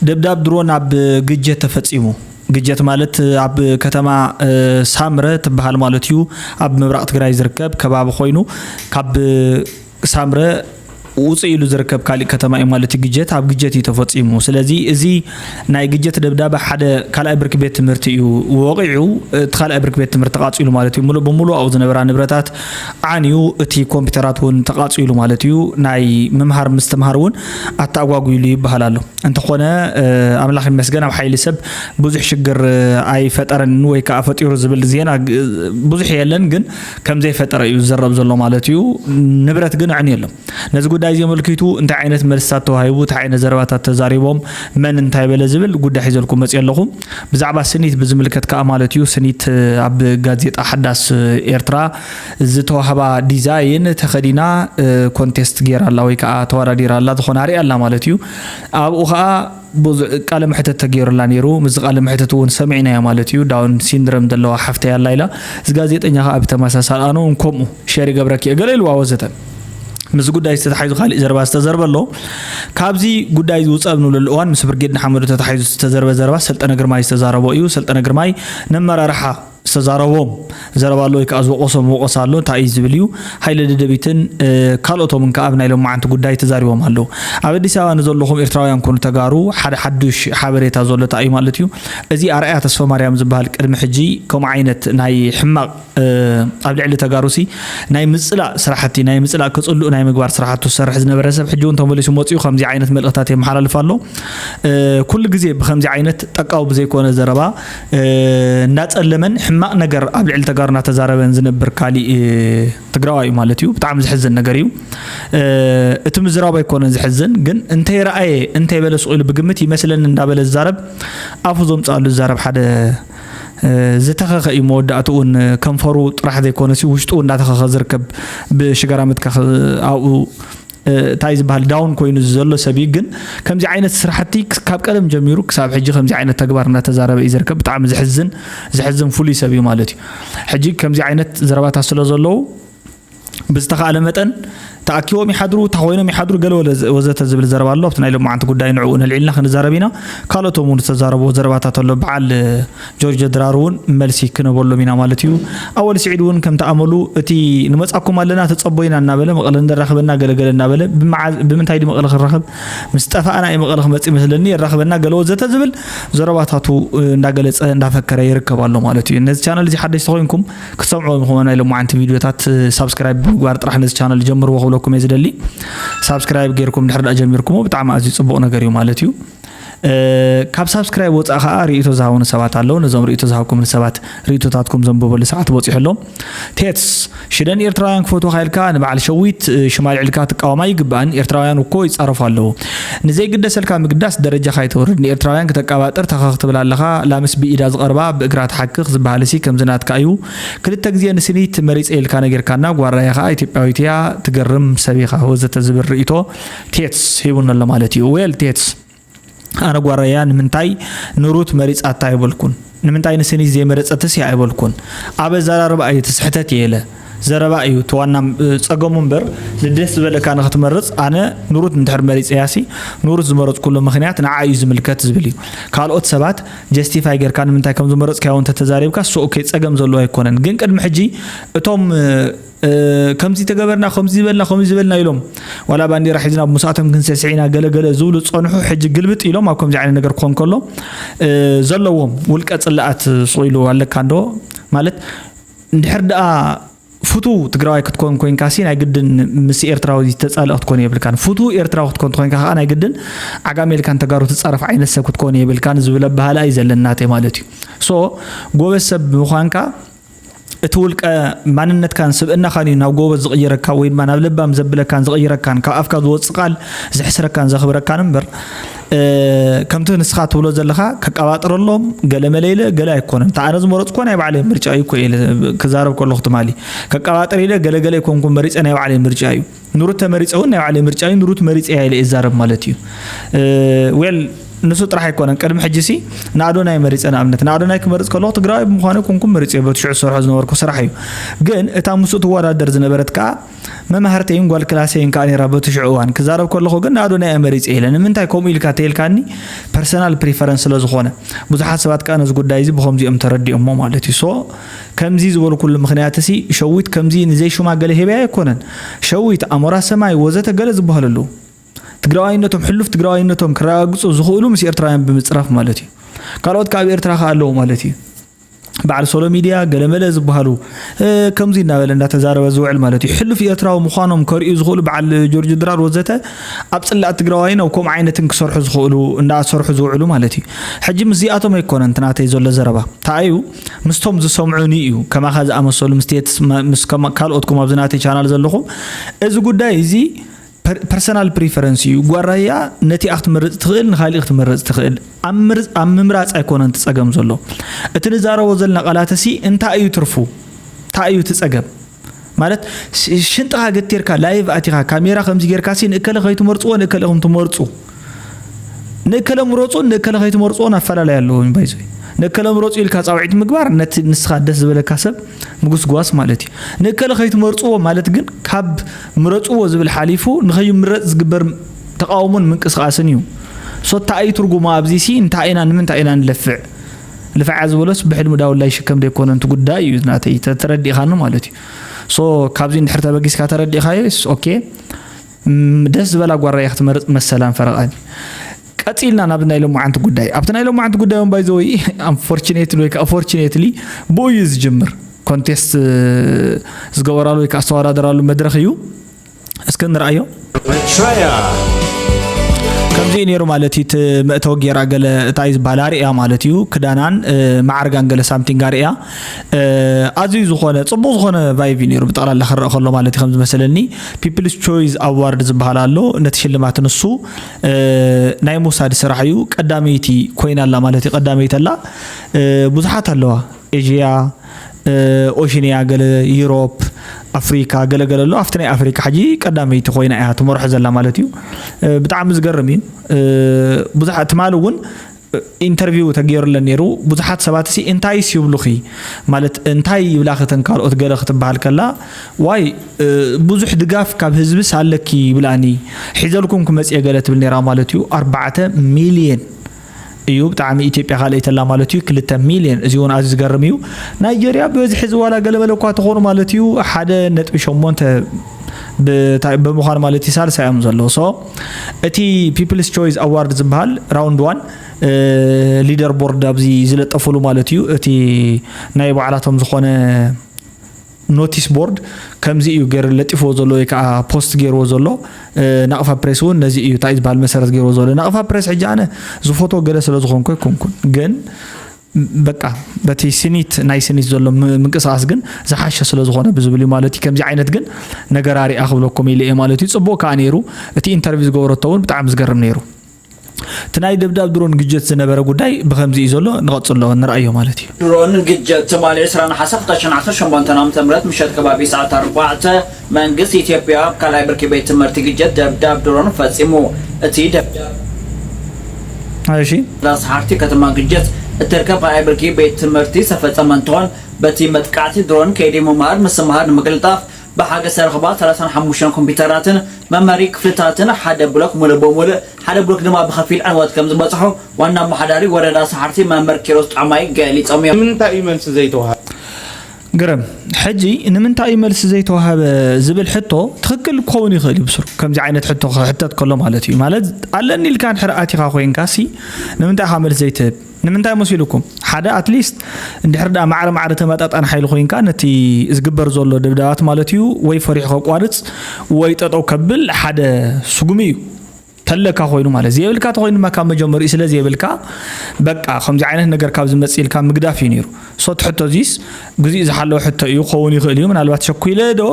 ደብዳብ ድሮን ኣብ ግጀት ተፈጺሙ። ግጀት ማለት ኣብ ከተማ ሳምረ ትበሃል ማለት እዩ። ኣብ ምብራቕ ትግራይ ዝርከብ ከባቢ ኮይኑ ካብ ሳምረ ውፅእ ኢሉ ዝርከብ ካሊእ ከተማ እዩ ማለት እዩ ግጀት ኣብ ግጀት እዩ ተፈፂሙ ስለዚ እዚ ናይ ግጀት ደብዳበ ሓደ ካልኣይ ብርኪ ቤት ትምህርቲ እዩ ወቂዑ እቲ ካልኣይ ብርኪ ቤት ትምህርቲ ቃፂሉ ማለት እዩ ሙሉእ ብሙሉእ ኣብኡ ዝነበራ ንብረታት ዓንዩ እቲ ኮምፒተራት እውን ተቓፂሉ ማለት እዩ ናይ ምምሃር ምስትምሃር እውን ኣተኣጓጒሉ ይበሃል ኣሎ እንተኾነ ኣምላኽ ይመስገን ኣብ ሓይሊ ሰብ ብዙሕ ሽግር ኣይፈጠረን ወይ ከዓ ፈጢሩ ዝብል ዜና ብዙሕ የለን ግን ከም ዘይፈጠረ እዩ ዝዘረብ ዘሎ ማለት እዩ ንብረት ግን ኣዕንዩ ኣሎ ነዚ ጉዳይ እዚ ኣመልኪቱ እንታይ ዓይነት መልስታት ተዋሂቡ እንታይ ዓይነት ዘረባታት ተዛሪቦም መን እንታይ በለ ዝብል ጉዳይ ሒዘልኩም መፅየ ኣለኹ ብዛዕባ ስኒት ብዝምልከት ከኣ ማለት እዩ፣ ስኒት ኣብ ጋዜጣ ሓዳስ ኤርትራ ዝተዋህባ ዲዛይን ተኸዲና ኮንቴስት ገይራ ኣላ ወይ ከኣ ተወዳዲራ ኣላ ዝኾነ ኣርያ ኣላ ማለት እዩ። ኣብኡ ከኣ ቃለ መሕተት ተገይሩላ ነይሩ። ምስዚ ቃለ መሕተት እውን ሰሚዕናዮ ማለት እዩ። ዳውን ሲንድረም ዘለዋ ሓፍተይ ኣላ ኢላ። እዚ ጋዜጠኛ ከኣ ብተመሳሳሊ ኣነ እውን ከምኡ ሸር ይገብረኪ እየ ገለ ኢልዋ ወዘተ። ምስዚ ጉዳይ ዝተታሓዙ ካሊእ ዘረባ ዝተዘርበ ኣሎ። ካብዚ ጉዳይ እዚ ውፃእ ብንብለሉ እዋን ምስ ብርጌድ ንሓመዱ ተታሒዙ ዝተዘርበ ዘረባ ሰልጠነ ግርማይ ዝተዛረቦ እዩ። ሰልጠነ ግርማይ ነመራርሓ ዝተዛረቦም ዘረባ ኣሎ ወይ ከዓ ዝወቀሶም ወቀሳ ኣሎ እንታይ እዩ ዝብል እዩ ሃይለ ደደቢትን ካልኦቶምን ከዓ ኣብ ናይ ሎማዓንቲ ጉዳይ ተዛሪቦም ኣለዉ ኣብ ኣዲስ ኣበባ ንዘለኹም ኤርትራውያን ኮኑ ተጋሩ ሓደ ሓዱሽ ሓበሬታ ዘሎ እንታይ እዩ ማለት እዩ እዚ ኣርኣያ ተስፋ ማርያም ዝበሃል ቅድሚ ሕጂ ከምኡ ዓይነት ናይ ሕማቅ ኣብ ልዕሊ ተጋሩሲ ናይ ምፅላእ ስራሕቲ ናይ ምፅላእ ክፅልኡ ናይ ምግባር ስራሕቱ ዝሰርሕ ዝነበረ ሰብ ሕጂ እውን ተመሊሱ መፅኡ ከምዚ ዓይነት መልእኽታት የመሓላልፍ ኣሎ ኩሉ ግዜ ብከምዚ ዓይነት ጠቃዊ ብዘይኮነ ዘረባ እንዳፀለመን ሕማቅ ነገር ኣብ ልዕሊ ተጋሩ እናተዛረበን ዝነብር ካሊእ ትግራዋይ እዩ ማለት እዩ ብጣዕሚ ዝሕዝን ነገር እዩ እቲ ምዝራብ ኣይኮነን ዝሕዝን ግን እንተይ ረኣየ እንተይ በለ ስቁኢሉ ብግምት ይመስለኒ እንዳበለ ዝዛረብ ኣፉ ዘምፅኣሉ ዝዛረብ ሓደ ዝተኸኸ እዩ መወዳእትኡ ን ከንፈሩ ጥራሕ ዘይኮነሲ ውሽጡ እንዳተኸኸ ዝርከብ ብሽጋራ ምትካኽ ኣብኡ እንታይ ዝበሃል ዳውን ኮይኑ ዘሎ ሰብ እዩ ግን ከምዚ ዓይነት ስራሕቲ ካብ ቀደም ጀሚሩ ክሳብ ሕጂ ከምዚ ዓይነት ተግባር እናተዛረበ እዩ ዝርከብ ብጣዕሚ ዝሕዝን ዝሕዝን ፍሉይ ሰብ እዩ ማለት እዩ ሕጂ ከምዚ ዓይነት ዘረባታት ስለ ዘለዉ ብዝተኻእለ መጠን ተኣኪቦም ይሓድሩ እታ ኮይኖም ይሓድሩ ገለ ወዘተ ዝብል ዘረባ ኣሎ ኣብቲ ናይ ሎማዓንቲ ጉዳይ ንዕኡ ነልዒልና ክንዛረብ ኢና ካልኦቶም እውን ዝተዛረብዎ ዘረባታት ኣሎ በዓል ጆርጆ ድራር እውን መልሲ ክነበሎም ኢና ማለት እዩ ኣወል ስዒድ እውን ከምቲ ኣመሉ እቲ ንመፃኩም ኣለና ተፀቦይና እናበለ መቐለ እንደራኸበና ገለገለ እናበለ ብምንታይ ድዩ መቐለ ክንራኸብ ምስ ጠፋእና እዩ መቐለ ክመፅ ይመስለኒ የራኸበና ገለ ወዘተ ዝብል ዘረባታቱ እንዳገለፀ እንዳፈከረ ይርከብ ኣሎ ማለት እዩ ነዚ ቻነል እዚ ሓደሽቲ ኮይንኩም ክትሰምዑ ኢኹም ናይ ሎማዓንቲ ቪድዮታት ሳብስክራይብ ብምግባር ጥራሕ ነዚ ቻነል ጀምርዎ ክብለኩም እየ ዝደሊ ሳብስክራይብ ጌርኩም ድሕሪ ዳኣ ጀሚርኩሞ ብጣዕሚ ኣዝዩ ጽቡቕ ነገር እዩ ማለት እዩ ካብ ሳብስክራይብ ወፃእ ከዓ ርእቶ ዝሃቡኒ ሰባት ኣለዉ ነዞም ርእቶ ዝሃብኩምኒ ሰባት ርእቶታትኩም ዘንብበሉ ሰዓት በፂሑ ኣሎ ቴትስ ሽደን ኤርትራውያን ክፈትወካ ኢልካ ንበዓል ሸዊት ሽማልዕ ኢልካ ትቃወማ ይግባእን ኤርትራውያን እኮ ይፃረፉ ኣለዉ ንዘይግደሰልካ ምግዳስ ደረጃኻ ኣይተውርድ ንኤርትራውያን ክተቃባጥር ተኸኽ ትብል ኣለኻ ላምስ ብኢዳ ዝቐርባ ብእግራ ትሓክኽ ዝበሃልሲ ከምዚ ናትካ እዩ ክልተ ግዜ ንስኒት መሪጸ ኢልካ ነጊርካና ጓራየ ከኣ ኢትዮጵያዊት እያ ትገርም ሰብ ኢኻ ወዘተ ዝብል ርእይቶ ቴትስ ሂቡኒ ኣሎ ማለት እዩ ዌል ቴትስ ኣነ ጓራያ ንምንታይ ንሩት መሪጻታ ኣይበልኩን ንምንታይ ንስኒት ዘይመረጸትስ እያ ኣይበልኩን ኣብ ኣዛራርባ እዩ እቲ ስሕተት የለ ዘረባ እዩ እቲ ዋና ጸገሙ እምበር ንደስ ዝበለካ ንክትመርጽ ኣነ ንሩት እንድሕር መሪጸያሲ ንሩት ዝመረጽኩሉ ምክንያት ንዓ እዩ ዝምልከት ዝብል እዩ ካልኦት ሰባት ጀስቲፋይ ጌርካ ንምንታይ ከም ዝመረጽካዮ እንተ ተዛሪብካ ሶ ኦኬ ጸገም ዘለዎ ኣይኮነን ግን ቅድሚ ሕጂ እቶም ከምዚ ተገበርና ከምዚ ዝበልና ከምዚ ዝበልና ኢሎም ዋላ ባንዴራ ሒዝና ብሙሳቶም ክንስዕስዕ ኢና ገለ ገለ ዝብሉ ዝጸንሑ ሕጂ ግልብጥ ኢሎም ኣብ ከምዚ ዓይነት ነገር ክኾን ከሎ ዘለዎም ውልቀ ጽላኣት ስቕ ኢሉ ኣለካ እንዶ ማለት እንድሕር ደኣ ፍቱው ትግራዋይ ክትኮን ኮንካ ሲ ናይ ግድን ምስ ኤርትራዊ ዝተጻልእ ክትኮን የብልካን ፍቱው ኤርትራዊ ክትኮን ትኮንካ ከዓ ናይ ግድን ዓጋሜልካን ተጋሩ ትጻረፍ ዓይነት ሰብ ክትኮን የብልካን ዝብል ኣበሃላ እዩ ዘለናተ ማለት እዩ ሶ ጎበዝ ሰብ ምዃንካ እቲ ውልቀ ማንነትካን ስብእናኻን እዩ ናብ ጎበዝ ዝቕይረካ ወይ ድማ ናብ ለባም ዘብለካን ዝቕይረካን ካብ ኣፍካ ዝወፅእ ቃል ዝሕስረካን ዘኽብረካን እምበር ከምቲ ንስኻ ትብሎ ዘለኻ ከቀባጥረሎም ገለ መለኢለ ገለ ኣይኮነን እንተ ኣነ ዝመረፅኮ ናይ ባዕለይ ምርጫ እዩ እኮ ክዛረብ ከለኹ ትማሊ ከቀባጥር ኢለ ገለገለ ኣይኮንኩም መሪፀ ናይ ባዕለይ ምርጫ እዩ ንሩት ተመሪጸ እውን ናይ ባዕለይ ምርጫ እዩ ንሩት መሪጸ እያ ኢለ ይዛረብ ማለት እዩ ዌል ንሱ ጥራሕ ኣይኮነን ቅድሚ ሕጂ ሲ ንኣዶናይ መሪጸ ንኣብነት ንኣዶናይ ክመርጽ ከለኹ ትግራዋይ ብምዃነ ኮንኩም መሪጸ በቲ ሽዑ ዝሰርሖ ዝነበርኩ ስራሕ እዩ ግን እታ ምስኡ ትወዳደር ዝነበረት ከዓ መማህርተይን ጓል ክላሰይን ከዓ ነራ በቲ ሽዑ እዋን ክዛረብ ከለኹ ግን ንኣዶናይ እየ መሪጸ ኢለ ንምንታይ ከምኡ ኢልካ ተይልካኒ ፐርሰናል ፕሪፈረንስ ስለ ዝኾነ ብዙሓት ሰባት ከዓ ነዚ ጉዳይ እዚ ብከምዚኦም ተረዲኦሞ ማለት እዩ ሶ ከምዚ ዝበልኩሉ ምኽንያትሲ ሸዊት ከምዚ ንዘይሹማ ገለ ሂበያ ኣይኮነን። ሸዊት፣ ኣሞራ ሰማይ ወዘተ ገለ ዝበሃሉ ኣለዉ። ትግራዋይነቶም ሕሉፍ ትግራዋይነቶም ክረጋግጹ ዝኽእሉ ምስ ኤርትራውያን ብምጽራፍ ማለት እዩ። ካልኦት ከኣ ኣብ ኤርትራ ከኣ ኣለዉ ማለት እዩ። በዓል ሶሎ ሚድያ ገለመለ ዝበሃሉ ከምዚ እናበለ እንዳተዛረበ ዝውዕል ማለት እዩ። ሕሉፍ ኤርትራዊ ምዃኖም ከርእዩ ዝኽእሉ በዓል ጆርጅ ድራር ወዘተ ኣብ ጽላእት ትግራዋይን ኣብ ከምኡ ዓይነትን ክሰርሑ ዝኽእሉ እንዳሰርሑ ዝውዕሉ ማለት እዩ። ሕጂ ምስዚኣቶም ኣይኮነን እቲ ናተይ ዘሎ ዘረባ። ተኣዩ ምስቶም ዝሰምዑኒ እዩ ከማኻ ዝኣመሰሉ ምስቴትስ ምስ ካልኦትኩም ኣብዚ ናተይ ቻናል ዘለኹም እዚ ጉዳይ እዚ ፐርሰናል ፕሪፈረንስ እዩ ጓራያ ነቲኣ ክትመርፅ ትኽእል ንካሊእ ክትመርፅ ትኽእል ኣብ ምምራፅ ኣይኮነን ትፀገም ዘሎ እቲ ንዛረቦ ዘለና ቃላትሲ እንታይ እዩ ትርፉ እንታይ እዩ ትፀገም ማለት ሽንጥኻ ገቲርካ ላይቭ ኣቲኻ ካሜራ ከምዚ ጌርካ ሲ ንእከለ ከይትመርፅዎ ንእከለ ከም ትመርፁ ንእከለ ምረፁን ንእከለ ከይትመርፅዎን ኣፈላለይ ኣለዎ ባይዞ ንእከለ ምረፁ ኢልካ ፃውዒት ምግባር ነቲ ንስኻ ደስ ዝበለካ ሰብ ምጉስጓስ ማለት እዩ ንእከለ ከይትመርፅዎ ማለት ግን ካብ ምረፅዎ ዝብል ሓሊፉ ንኸይምረፅ ዝግበር ተቃውሞን ምንቅስቃስን እዩ ሶታ እዩ ትርጉሙ ኣብዚ ሲ እንታይ ኢና ንምንታይ ኢና ንለፍዕ ልፍዓ ዝበሎስ ብሕልሚ ዳውላ ይሽከም ደይኮነን እቲ ጉዳይ እዩ ናተይ ተረዲእኻኒ ማለት እዩ ሶ ካብዚ እንድሕር ተበጊስካ ተረዲእኻዮ ስ ኦኬ ደስ ዝበላ ጓራያ ክትመርፅ መሰላን ፈረቓን እዩ ቀፂልና ናብ ናይ ሎማዓንቲ ጉዳይ ኣብቲ ናይ ሎማዓንቲ ጉዳይ ውን ባይዘወ ኣንፎርችኔትሊ ወይ ከዓ ፎርችኔትሊ ብኡ እዩ ዝጅምር ኮንቴስት ዝገበራሉ ወይ ከዓ ዝተወዳደራሉ መድረክ እዩ እስኪ ንርኣዮ ከምዚ እዩ ነይሩ ማለት እዩ እቲ መእተዊ ጌራ ገለ እታይ ዝበሃል ኣርእያ ማለት እዩ ክዳናን ማዕርጋን ገለ ሳምቲንግ ኣርእያ ኣዝዩ ዝኾነ ፅቡቅ ዝኾነ ቫይቭ እዩ ነይሩ ብጠቕላላ ክረአ ከሎ ማለት እዩ ከም ዝመሰለኒ ፒፕልስ ቾይዝ ኣዋርድ ዝበሃል ኣሎ ነቲ ሽልማት ንሱ ናይ ምውሳድ ስራሕ እዩ ቀዳመይቲ ኮይና ኣላ ማለት እዩ ቀዳመይቲ ኣላ ብዙሓት ኣለዋ ኤዥያ፣ ኦሽንያ፣ ገለ ዩሮፕ፣ ኣፍሪካ ገለ ገለ ኣሎ። ኣብቲ ናይ ኣፍሪካ ሕጂ ቀዳመይቲ ኮይና እያ ትመርሖ ዘላ ማለት እዩ። ብጣዕሚ ዝገርም እዩ። ብዙሓት ትማሊ እውን ኢንተርቪው ተገይሩለን ነይሩ ብዙሓት ሰባት ሲ እንታይስ ይብሉኺ ማለት እንታይ ይብላኺ ተን ካልኦት ገለ ክትበሃል ከላ ዋይ ብዙሕ ድጋፍ ካብ ህዝብስ ኣለኪ ይብላኒ ሒዘልኩም ክመፅየ ገለ ትብል ነይራ ማለት እዩ ኣርባዕተ ሚልየን እዩ ብጣዕሚ ኢትዮጵያ ካልእተላ ማለት እዩ ክልተ ሚልዮን እዚ እውን ኣዝዩ ዝገርም እዩ ናይጀርያ ብበዝሒ እዚ ዋላ ገለመለ እኳ ተኾኑ ማለት እዩ ሓደ ነጥቢ ሸሞንተ ብምዃኑ ማለት እዩ ሳልሳ እዮም ዘለዉ ሶ እቲ ፒፕልስ ቾይስ ኣዋርድ ዝበሃል ራውንድ ዋን ሊደር ቦርድ ኣብዚ ዝለጠፍሉ ማለት እዩ እቲ ናይ ባዕላቶም ዝኾነ ኖቲስ ቦርድ ከምዚ እዩ ገይሩ ለጢፍዎ ዘሎ ወይ ከዓ ፖስት ገይርዎ ዘሎ ናቕፋ ፕሬስ እውን ነዚ እዩ እንታይ ዝበሃል መሰረት ገይርዎ ዘሎ ናቕፋ ፕሬስ ሕጂ ኣነ ዝፎቶ ገለ ስለ ዝኾንኩ ኣይኮንኩን ግን በቃ በቲ ስኒት ናይ ስኒት ዘሎ ምንቅስቃስ ግን ዝሓሸ ስለ ዝኾነ ብዝብል እዩ ማለት እዩ ከምዚ ዓይነት ግን ነገር ኣሪኣ ክብለኩም ኢለ እየ ማለት እዩ ፅቡቅ ከዓ ነይሩ እቲ ኢንተርቪው ዝገበረቶ እውን ብጣዕሚ ዝገርም ነይሩ እቲ ናይ ደብዳብ ድሮን ግጀት ዝነበረ ጉዳይ ብኸምዚ እዩ ዘሎ ንቐጽሎ ንርኣዮ ማለት እዩ። ድሮን ግጀት ትማሊ ዕስራ ነሓሰ ክልተ ሽሕን ዓሰርተ ሸሞንተን ዓመተ ምህረት ምሸት ከባቢ ሰዓት ኣርባዕተ መንግስቲ ኢትዮጵያ ኣብ ካልኣይ ብርኪ ቤት ትምህርቲ ግጀት ደብዳብ ድሮን ፈጺሙ። እቲ ደብዳብ እሺ። እዛ ሰሓርቲ ከተማ ግጀት እትርከብ ካልኣይ ብርኪ ቤት ትምህርቲ ዝተፈጸመ እንትኾን በቲ መጥቃዕቲ ድሮን ከይዲ ምምሃር ምስምሃር ንምቅልጣፍ ብሓገዝ ዝተረኽባ ሰላሳን ሓሙሽተን ኮምፒዩተራትን መምሀሪ ክፍልታትን ሓደ ብሎክ ሙሉእ ብሙሉእ ሓደ ብሎክ ድማ ብኸፊል ዕንወት ከምዝበፅሖ ዋና ኣመሓዳሪ ወረዳ ሰሓርቲ መምህር ኪሮስ ጫማይ ገሊፆም እዮም። ንምንታይ እዩ መልሲ ዘይተውሃበ? ግርም፣ ሕጂ ንምንታይ እዩ መልሲ ዘይተውሃበ ዝብል ሕቶ ትኽክል ክኸውን ይኽእል እዩ ብስሩ። ከምዚ ዓይነት ሕቶ ክሕተት ከሎ ማለት እዩ። ማለት ኣለኒ ኢልካ እንድሕር ኣቲኻ ኮይንካሲ ንምንታይ ኢኻ መልሲ ዘይትህብ? ንምንታይ መሲሉኩም ሓደ ኣትሊስት እንድሕር ድኣ ማዕረ ማዕረ ተመጣጣኒ ሓይሊ ኮይንካ ነቲ ዝግበር ዘሎ ደብዳባት ማለት እዩ ወይ ፈሪሑ ከቋርጽ ወይ ጠጠው ከብል ሓደ ስጉሚ እዩ ተለካ ኮይኑ ማለት ዘየብልካ ተኮይኑ ድማ ካብ መጀመሪኡ ስለ ዘየብልካ በቃ ከምዚ ዓይነት ነገር ካብ ዝመጽእ ኢልካ ምግዳፍ እዩ ነይሩ ሶት ሕቶ እዚስ ግዚኡ ዝሓለወ ሕቶ እዩ ክኸውን ይኽእል እዩ ምናልባት ሸኲለ ዶ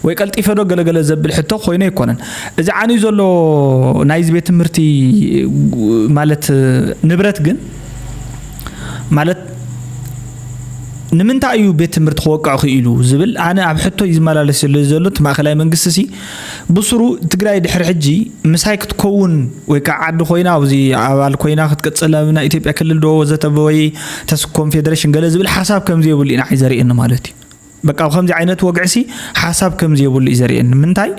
ወይ ቀልጢፈ ዶ ገለገለ ዘብል ሕቶ ኮይኑ ኣይኮነን እዚ ዓንዩ ዘሎ ናይዚ ቤት ትምህርቲ ማለት ንብረት ግን ማለት ንምንታይ እዩ ቤት ትምህርቲ ክወቅዕ ክኢሉ ዝብል ኣነ ኣብ ሕቶ ይዝመላለስ ዘሎ ዘሎ እቲ ማእከላይ መንግስቲ ሲ ብሱሩ ትግራይ ድሕሪ ሕጂ ምሳይ ክትኮውን ወይ ከዓ ዓዲ ኮይና ኣብዚ ኣባል ኮይና ክትቅፅል ኣብ ናይ ኢትዮጵያ ክልል ዶ ወዘተ ወይ ተስ ኮንፌደሬሽን ገለ ዝብል ሓሳብ ከምዘይብሉ እዩ ንዓይ ዘርእየኒ ማለት እዩ። በቃ ከምዚ ዓይነት ወግዕሲ ሓሳብ ከምዘይብሉ እዩ ዘርእየኒ ምንታይ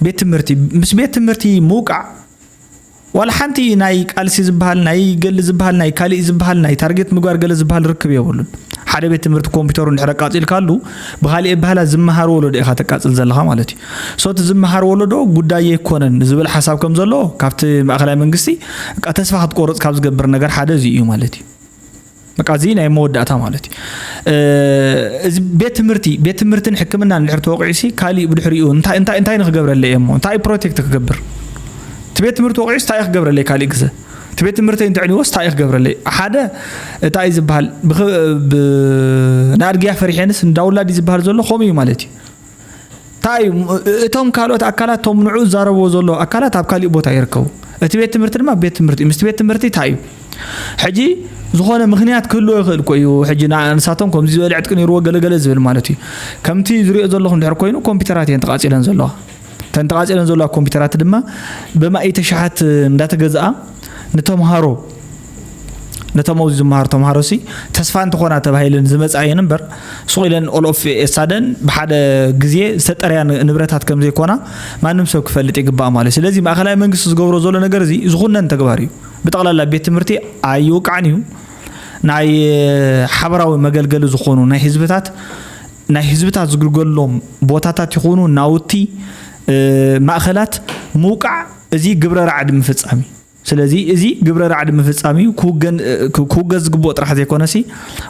ቤት ትምህርቲ ምስ ቤት ትምህርቲ ምውቃዕ ዋላ ሓንቲ ናይ ቃልሲ ዝበሃል ናይ ገሊ ዝበሃል ናይ ካሊእ ዝበሃል ናይ ታርጌት ምግባር ገለ ዝበሃል ርክብ የብሉን። ሓደ ቤት ትምህርቲ ኮምፒተሩ እንድሕር ኣቃጺልካሉ ብኻሊእ ኣበሃህላ ዝመሃር ወለዶ ኢኻ ተቃጽል ዘለኻ ማለት እዩ። ሶ እቲ ዝመሃር ወለዶ ጉዳይ ኣይኮነን ዝብል ሓሳብ ከም ዘሎ ካብቲ ማእከላይ መንግስቲ በቃ ተስፋ ክትቆርጽ ካብ ዝገብር ነገር ሓደ እዚ እዩ ማለት እዩ። በቃ እዚ ናይ መወዳእታ ማለት እዩ እዚ ቤት ትምህርቲ ቤት ትምህርትን ሕክምናን እንድሕር ተወቂዑሲ ካሊእ ብድሕሪኡ እንታይ እንታይ እንታይ ንክገብረለይ እየ እሞ እንታይ ፕሮቴክት ክገብር እቲ ቤት ትምህርቲ ወቂዑስ እንታይ ክገብረለይ ካሊእ ግዘ እቲ ቤት ትምህርተይ እንተዕንዎስ እንታይ ክገብረለይ ሓደ እታ እዩ ዝበሃል ንኣድግያ ፈሪሐንስ እንዳውላድ እዩ ዝበሃል ዘሎ ከምኡ እዩ ማለት እዩ እንታይ እዩ እቶም ካልኦት ኣካላት እቶም ንዑ ዝዛረብዎ ዘሎ ኣካላት ኣብ ካሊእ ቦታ ይርከቡ እቲ ቤት ትምህርቲ ድማ ቤት ትምህርቲ ምስቲ ቤት ትምህርቲ እንታይ እዩ ሕጂ ዝኾነ ምክንያት ክህልዎ ይኽእል ኮ እዩ ሕጂ ንሳቶም ከምዚ ዝበለ ዕጥቂ ነይርዎ ገለገለ ዝብል ማለት እዩ ከምቲ ዝሪኦ ዘለኹም ድሕር ኮይኑ ኮምፒውተራት እየን ተቓፂለን ዘለዋ እተን ተቓፂለን ዘለዋ ኮምፒውተራት ድማ ብማኢተ ሸሓት እንዳተገዝኣ ንተምሃሮ ነቶም ኣብዚ ዝመሃሩ ተምሃሮሲ ተስፋ እንትኾና ተባሂለን ዝመፃ እየን እምበር ሱቕ ኢለን ኦሎፍ ኤሳደን ብሓደ ግዜ ዝተጠርያ ንብረታት ከም ዘይኮና ማንም ሰብ ክፈልጥ ይግባእ ማለት እዩ ስለዚ ማእኸላይ መንግስቲ ዝገብሮ ዘሎ ነገር እዚ ዝኹነን ተግባር እዩ ብጠቕላላ ቤት ትምህርቲ ኣይውቃዕን እዩ ናይ ሓበራዊ መገልገሊ ዝኾኑ ናይ ህዝብታት ናይ ህዝብታት ዝግልገሎም ቦታታት ይኹኑ ናውቲ ማእኸላት ምውቃዕ እዚ ግብረ ራዕዲ ምፍፃም እዩ ስለዚ እዚ ግብረ ራዕዲ ምፍጻም እዩ፣ ክውገን ክውገዝ ዝግብኦ ጥራሕ ዘይኮነሲ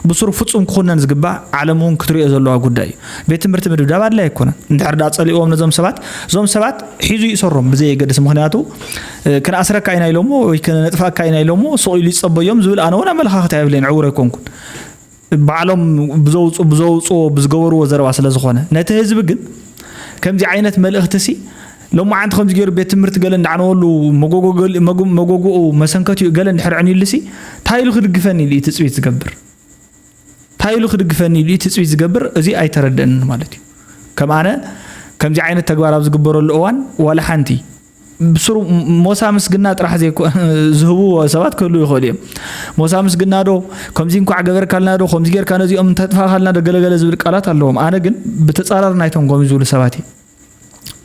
ብሱሩ ፍጹም ክኹነን ዝግባእ ዓለም እውን ክትሪኦ ዘለዋ ጉዳይ እዩ። ቤት ትምህርቲ ምድብዳብ ኣድላይ ኣይኮነን። እንድሕር ድኣ ጸሊእዎም ነዞም ሰባት እዞም ሰባት ሒዙ ይእሰሮም ብዘየገድስ ምኽንያቱ ክንኣስረካ ኢና ኢሎሞ ወይ ክነጥፍኣካ ኢና ኢሎሞ ሱቕ ኢሉ ይጸበዮም ዝብል ኣነ እውን ኣመለኻኽታ የብለይን ዕውር ኣይኮንኩን። ባዕሎም ብዘውጽ ብዘውጽዎ ብዝገበርዎ ዘረባ ስለ ዝኾነ ነቲ ህዝቢ ግን ከምዚ ዓይነት መልእኽቲሲ ሎማዓንቲ ከምዚ ገይሩ ቤት ትምህርቲ ገለ እንዳዕነወሉ መጎጎኡ መሰንከቲኡ ገለ እንድሕር ዕንዩሉሲ እንታይ ኢሉ ክድግፈኒ ኢሉ እዩ ትፅቢት ዝገብር እንታይ ኢሉ ክድግፈኒ ኢሉ እዩ ትፅቢት ዝገብር እዚ ኣይተረድእንን ማለት እዩ ከም ኣነ ከምዚ ዓይነት ተግባር ኣብ ዝግበረሉ እዋን ዋላ ሓንቲ ብስሩ ሞሳ ምስግና ጥራሕ ዘይኮ ዝህብዎ ሰባት ክህሉ ይኽእሉ እዮም ሞሳ ምስግና ዶ ከምዚ እንኳዕ ገበርካልና ዶ ከምዚ ጌርካ ነዚኦም እንተጥፋኻልና ዶ ገለገለ ዝብል ቃላት ኣለዎም ኣነ ግን ብተፃራሪ ናይቶም ከምዚ ዝብሉ ሰባት እዩ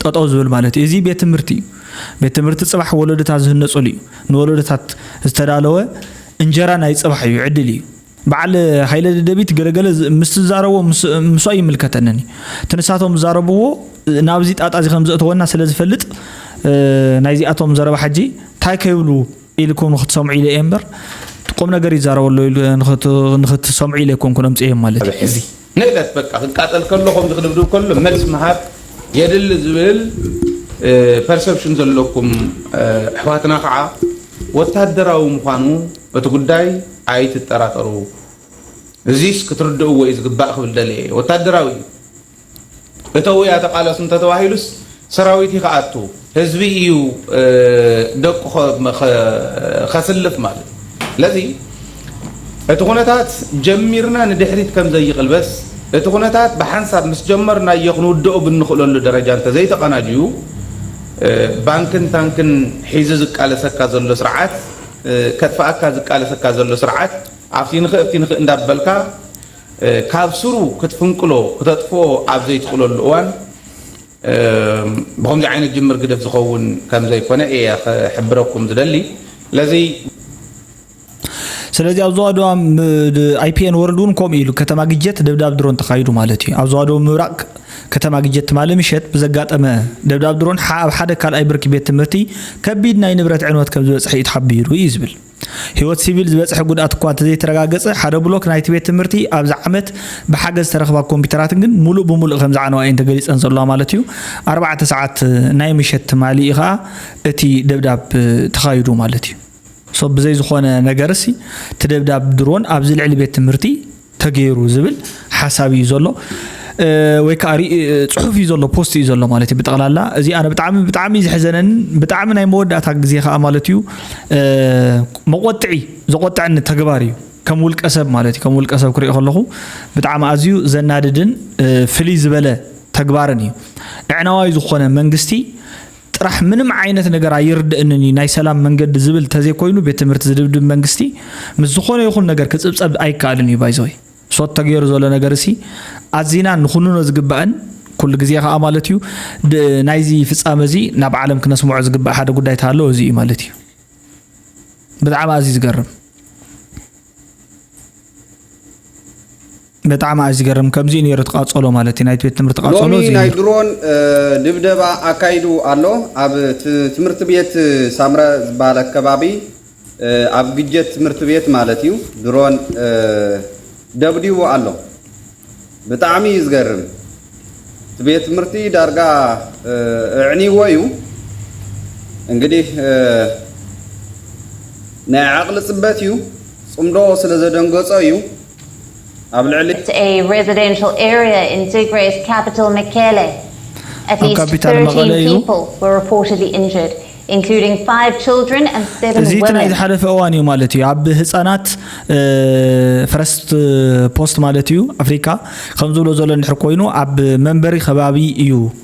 ጠጠው ዝብል ማለት እዩ እዚ ቤት ትምህርቲ እዩ ቤት ትምህርቲ ፅባሕ ወለዶታት ዝህነፅሉ እዩ ንወለዶታት ዝተዳለወ እንጀራ ናይ ፅባሕ እዩ ዕድል እዩ በዓል ሃይለ ደደቢት ገለ ገለ ምስ ትዛረቦ ምስ ኣይምልከተንን እዩ እቲ ንሳቶም ዝዛረብዎ ናብዚ ጣጣ እዚ ከም ዘእተወና ስለ ዝፈልጥ ናይዚኣቶም ዘረባ ሕጂ እንታይ ከይብሉ ኢልኩም ንክትሰምዑ ኢለ እየ እምበር ቁም ነገር ይዛረበ ኣሎ ንክትሰምዑ ኢለ ኣይኮንኩን ኣምፅኤ ማለት እዩ ንእለት በቃ ክቃጸል ከሎ ከምዚ ክድብድብ ከሎ መልስ ምሃብ የድሊ ዝብል ፐርሰፕሽን ዘለኩም ኣሕዋትና ከዓ ወታደራዊ ምዃኑ እቲ ጉዳይ ኣይትጠራጠሩ እዚስ ክትርድእዎ እዩ ዝግባእ ክብል ደልየ እየ ወታደራዊ እዩ እተው'ያ ተቓለሱ እንተተባሂሉስ ሰራዊት'ዩ ክኣቱ፣ ህዝቢ ኢዩ ደቁ ከስልፍ ማለት። ስለዚ እቲ ኩነታት ጀሚርና ንድሕሪት ከም ዘይቕልበስ፣ እቲ ኩነታት ብሓንሳብ ምስ ጀመርናዮ ክንውድኦ ብንኽእለሉ ደረጃ እንተዘይተቐናጅዩ፣ ባንክን ታንክን ሒዙ ዝቃለሰካ ዘሎ ስርዓት፣ ከጥፍኣካ ዝቃለሰካ ዘሎ ስርዓት፣ ኣብቲ ንኽእ ኣብቲ ንኽእ እንዳበልካ፣ ካብ ሱሩ ክትፍንቅሎ ክተጥፍኦ ኣብ ዘይትኽእለሉ እዋን ብኸምዚ ዓይነት ጅምር ግደፍ ዝኸውን ከም ዘይኮነ እየ ክሕብረኩም ዝደሊ። ስለዚ። ስለዚ ኣብ ዞባ ደቡብ ኣይፒኤን ወርልድ እውን ከምኡ ኢሉ ከተማ ግጀት ደብዳብ ድሮን ተኻይዱ ማለት እዩ። ኣብ ዞባ ደቡብ ምብራቕ ከተማ ግጀት ትማሊ ምሸት ብዘጋጠመ ደብዳብ ድሮን ኣብ ሓደ ካልኣይ ብርኪ ቤት ትምህርቲ ከቢድ ናይ ንብረት ዕንወት ከም ዝበፅሐ እዩ ተሓቢሩ እዩ ዝብል። ህይወት ሲቪል ዝበፅሐ ጉድኣት እኳ እንተዘይተረጋገፀ ሓደ ብሎክ ናይቲ ቤት ትምህርቲ ኣብዚ ዓመት ብሓገዝ ዝተረኽባ ኮምፒዩተራት ግን ሙሉእ ብሙሉእ ከምዝዓነዋ እየን ተገሊፀን ዘለዋ ማለት እዩ። ኣርባዕተ ሰዓት ናይ ምሸት ትማሊ እዩ ከዓ እቲ ደብዳብ ተኻይዱ ማለት እዩ። ሶ ብዘይ ዝኾነ ነገርሲ እቲ ደብዳብ ድሮን ኣብዚ ልዕሊ ቤት ትምህርቲ ተገይሩ ዝብል ሓሳብ እዩ ዘሎ ወይ ከዓ ፅሑፍ እዩ ዘሎ ፖስት እዩ ዘሎ ማለት እዩ ብጠቕላላ እዚ ኣነ ብጣዕሚ ብጣዕሚ ዝሕዘነን ብጣዕሚ ናይ መወዳእታ ግዜ ከዓ ማለት እዩ መቆጥዒ ዘቆጥዐኒ ተግባር እዩ ከም ውልቀ ሰብ ማለት እዩ ከም ውልቀ ሰብ ክሪኦ ከለኹ ብጣዕሚ ኣዝዩ ዘናድድን ፍልይ ዝበለ ተግባርን እዩ ዕዕናዋይ ዝኾነ መንግስቲ ጥራሕ ምንም ዓይነት ነገር ኣይርደእንን እዩ ናይ ሰላም መንገዲ ዝብል ተዘይኮይኑ ቤት ትምህርቲ ዝድብድብ መንግስቲ ምስ ዝኾነ ይኹን ነገር ክፅብፀብ ኣይካኣልን እዩ ባይዘወይ ሶት ተገይሩ ዘሎ ነገር እሲ ኣዚና ንኹንኖ ዝግባእን ኩሉ ግዜ ከዓ ማለት እዩ ናይዚ ፍፃመ እዚ ናብ ዓለም ክነስምዖ ዝግባእ ሓደ ጉዳይ ተሃለወ እዚ እዩ ማለት እዩ ብጣዕሚ ኣዝዩ ዝገርም በጣዕሚ ኣዩ ዝገርም ከምዚ እዩ ነይሩ እቲ ቃጸሎ ማለት እዩ ናይቲ ቤት ትምህርቲ ቃጸሎ ሎሚ እዚ እዩ ናይ ነይሩ። ድሮን ድብደባ ኣካይዱ ኣሎ ኣብ ትምህርቲ ቤት ሳምረ ዝባሃል ኣከባቢ ኣብ ግጀት ትምህርቲ ቤት ማለት እዩ ድሮን ደብዲቡ ኣሎ ብጣዕሚ እዩ ዝገርም እቲ ቤት ትምህርቲ ዳርጋ እዕኒዎ እዩ እንግዲህ ናይ ዓቅሊ ጽበት እዩ ጽምዶ ስለ ዘደንገጾ እዩ ኣብ ልዕሊ ኣብ ካፒታል መቐለ እዩ። እዚ እቲ ናይ ዝሓለፈ እዋን እዩ ማለት እዩ። ኣብ ህጻናት ፈረስት ፖስት ማለት እዩ ኣፍሪካ ከምዝብሎ ዘሎ እንድሕር ኮይኑ ኣብ መንበሪ ከባቢ እዩ።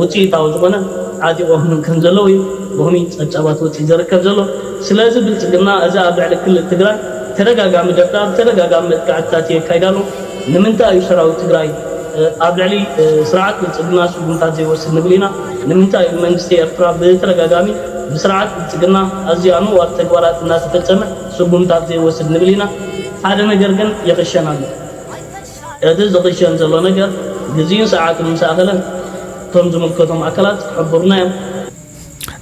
ውፅኢታዊ ዝኾነ ዓጢቖ ክህብ ከምዘለዎ እዩ ሎሚ ፀብፃባት ወፂኡ ዘርከብ ዘሎ። ስለዚ ብልፅግና እዚ ኣብ ልዕሊ ክልል ትግራይ ተደጋጋሚ ደብዳብ፣ ተደጋጋሚ መጥቃዕትታት የካይድ ኣሎ። ንምንታይ እዩ ሰራዊት ትግራይ ኣብ ልዕሊ ስርዓት ብልፅግና ስጉምታት ዘይወስድ ንብል ኢና። ንምንታይ እዩ መንግስቲ ኤርትራ ብተደጋጋሚ ብስርዓት ብልፅግና ኣዝዩ ኣነዋሪ ተግባራት እናተፈፀመ ስጉምታት ዘይወስድ ንብል ኢና። ሓደ ነገር ግን ይኽሸን ኣሎ። እቲ ዝኽሸን ዘሎ ነገር ግዜኡን ሰዓቱን ምስ ኣኸለ እቶም ዝምልከቶም ኣካላት ክሕብሩና እዮም።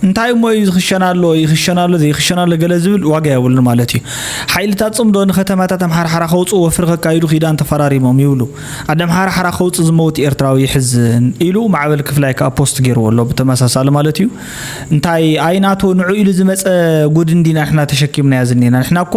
እንታይ እሞ እዩ ዝኽሸን ኣሎ ይኽሸን ኣሎ ዘይኽሸን ኣሎ ገለ ዝብል ዋጋ የብሉን ማለት እዩ። ሓይልታት ጽምዶ ንከተማታት ኣምሓርሓራ ከውጽኡ ወፍሪ ከካይዱ ኪዳን ተፈራሪሞም ይብሉ። ኣደ ኣምሓርሓራ ከውጽእ ዝመውት ኤርትራዊ የሕዝን ኢሉ ማዕበል ክፍላይ ከኣ ፖስት ጌርዎ ኣሎ ብተመሳሳሊ ማለት እዩ። እንታይ ኣይናቶ ንዑ ኢሉ ዝመጸ ጉድ እንዲና ንሕና ተሸኪምናዮ ዝኔና ንሕና እኮ